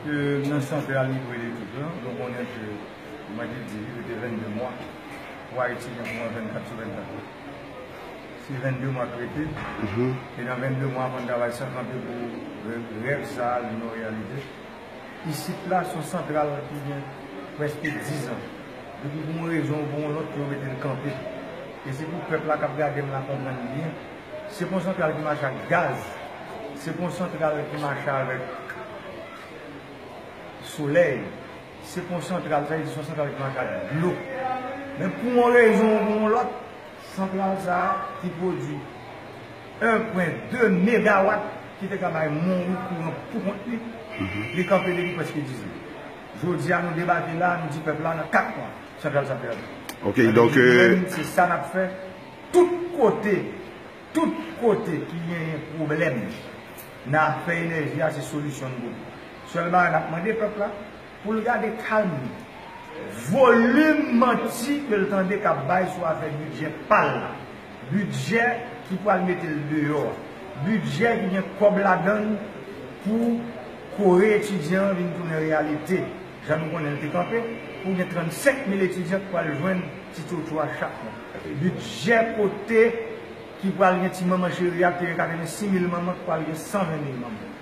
Ke nan sante a li dwe etik lan, nou konnen ke mwen te di li rete 22 mwa pou Ayiti gen kouran 24 sou 24 la. Se 22 mwa ki rete, e nan 22 mwa fòn travay san kanpe pou rèv sa a vin yon reyalite. Isit la son santral ki gen prèske 10 an, depi pou yon rezon ou pou yon lòt yo mete l kanpe. E se pou pèp la kap gade m la konprann byen. Se pon santral ki mache ak gaz, se pon santral ki mache avèk solèy, se pon santral, sa vle di son santral ki mache ak dlo. Men pou yon rezon ou pou yon lòt, santral sa a ki pwodui 1 pwen 2 megawat ki te ka bay Monwi kouran pou kont li, li kanpe depi prèske 10 an. Jodi a nou debake la, nou di pèp la nan 4 mwa santral sa pèdi. Sa vle di nou menm se sa n ap fè. Tout kote Tout kote ki genyen pwoblèm nan afè enèji a se solisyon n voye. Sèl bagay n ap mande pèp la pou l gade kalm li. Volim manti ke l tande k ap bay sou afè bidjè pa l la, bidjè ki pral mete l deyò a, bidjè ki gen kòb ladan l pou kore etidyan an vin tounen reyalite. Jan nou konnen l te kanpe pou gen 35 mil etidyan k pral jwenn ti tchotcho a chak mwa. Bidjè kote ki pral gen ti manman cheri a te gen 86 mil manman k pral gen 120 mil manman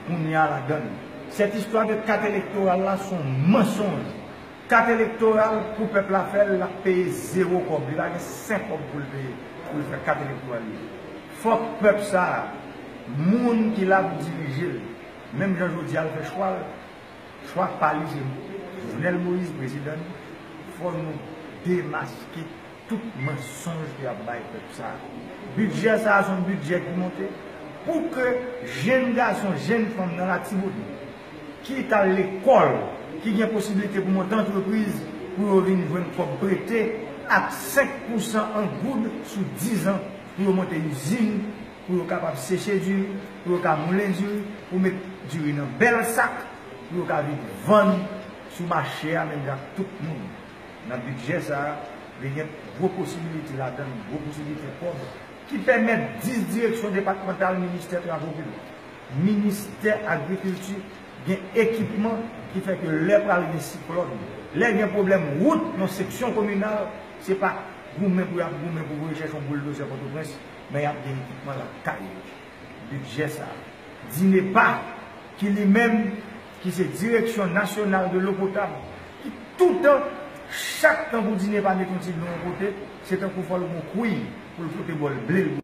kounye a ladan l. Cette histoire de kat elektoral la son mansonj. Kat elektoral pou pèp la fè l l ap peye zewo kòb. Li pa gen sen kòb pou l peye pou l fè kat elektoral li. Fòk pèp sa a, moun ki la pou dirije l, menm jan jodi a l fè chwa l, Chwa pa rive m. Jovenel Moïse prezidan nou, fò nou demaske tout mansonj ke yap bay pèp sa. Bidjè sa son bidjè ki monte pou ke jenn gason, jenn fanm nan Latibonit ki t al lekòl, ki gen posibilite pou monte antrepriz pou yo vin jwenn kòb prete ak 5 pousan an goud sou 10 an pou yo monte izin. pou yo kapab seche diri, pou yo ka moulen diri, pou met diri nan bèl sak, pou yo ka vin vann sou mache a menm jan ak tout moun. Nan bidjè sa a, li gen gwo posibilite ladan l, gwo posibilite kòb ki pèmèt 10 direksyon depatmantal ministè travo piblik, ministè agrikilti gen ekipman ki fè ke lè pral gen siklòn, lè gen pwoblèm wout nan seksyon kominal, se pa goumen pou y ap goumen pou voye chèche yon bouldozè Pòtoprens. Men yap gen ekipman lap kay yo. Budget sa. Dinepa ki li menm ki se Direction Nationale de l'eau potable ki toutan chak tan pou Dinepa met yon ti dlo yon kote se tankou fol gon kwiy poul frote bol blel bouyi.